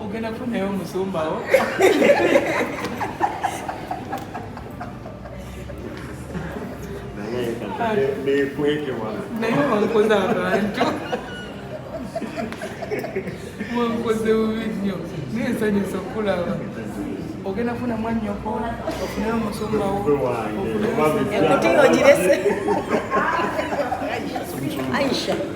Ogenda kufunayo omusumba wo. Naye wankoze abantu. Wankoze bubi nnyo. Naye nsanyusa okulaba. Ogenda kufuna mwannyoko, ofuneyo omusumba wo. Ekutiya ogirese. Aisha.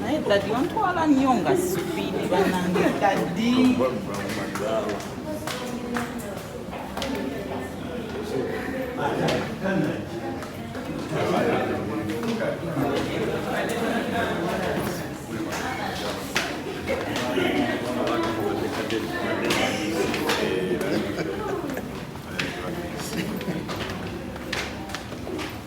naye dadi ontwala nnyo nga sipiidi banange dadi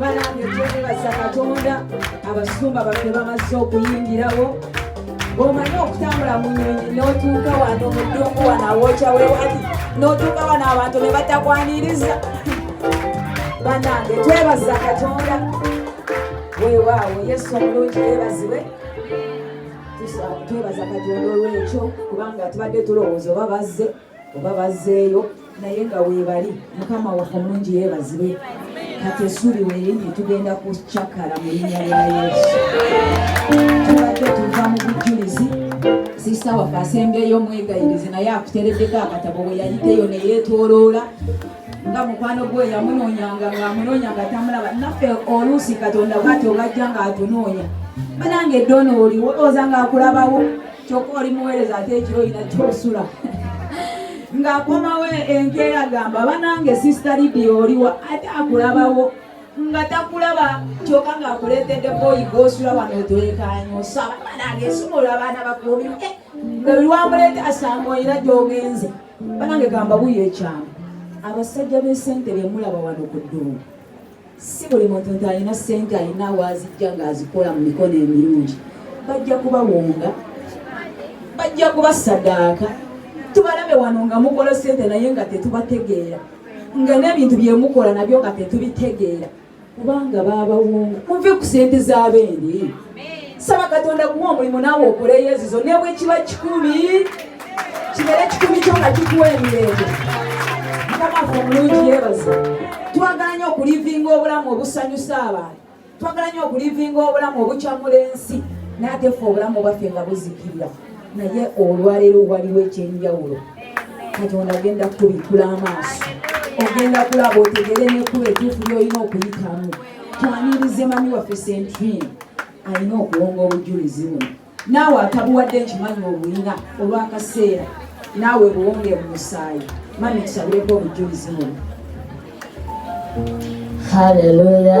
balambye twebaza katonda abasumba baffe bamaze okuyingirawo omanyi okutambula mu nyonyi notuuka wano mudungu wano awokya wewali notuuka wano abantu ne batakwaniriza banange twebaza katonda wewaawo yesu omulungi yebaziwe twebaza katonda olwekyo kubanga tubadde tulowooza oba bazze oba bazzeeyo naye nga weebali mukama waffe omulungi yeebazibwe kati esuubi weerinye tugenda kucakala mu linnya lya yesu tubadde tuva mu bujjulizi sisita waffe asembyeyo mwegayirize naye akutereddeko akatabo bwe yayiteyo ne yeetooloola nga mukwano gwe yamunoonyanga ng'amunoonya nga tamulaba naffe oluusi katonda bwati obajja ng'atunoonya banange eddoono oliwo olowooza ng'akulabawo kyokka oli muweereza ate ekiro olina kyosula ng'akomawo enkeera gamba banange sisita lidi oliwa ate akulabawo nga takulaba kyoka ng'akuleetedde boyi gosula wano otulekaanya osaba banange esumula abaana bakuumi eh, nga buli wamuleete asanga olina gy'ogenze banange gamba buyo ekyama abasajja b'esente bemulaba wano ku ddungu si buli muntu nti alina ssente alina waazijja ng'azikola mu mikono emirungi bajja kubawonga bajja kubasadaaka tubalabe wano nga mukola ssente naye nga tetubategeera nga n'ebintu bye mukola nabyo nga tetubitegeera kubanga baabawonga muve ku ssente z'abendi saba katonda kuwa omulimu naawe okole yezizo ne bwe kiba kikumi kibeere kikumi kyo nga kikuwa emirembe mukamafe omulungi yebaza twagala nyo okulivinga obulamu obusanyusa abantu twagala nyo okulivinga obulamu obukyamula ensi naye ate fe obulamu obwaffe nga buzikirira naye olwaleero waliwo ekyenjawulo katonda agenda kutubikula amaaso ogenda kulaba otegere nekkuba etuufu lyolina okuyitamu twanirize mami waffe sentrin alina okuwonga obujulizi buno naawe atabuwadde nkimanyi obulina olwakaseera naawe buwonge mu musaayi mami tusabireko obujulizi buno haleluya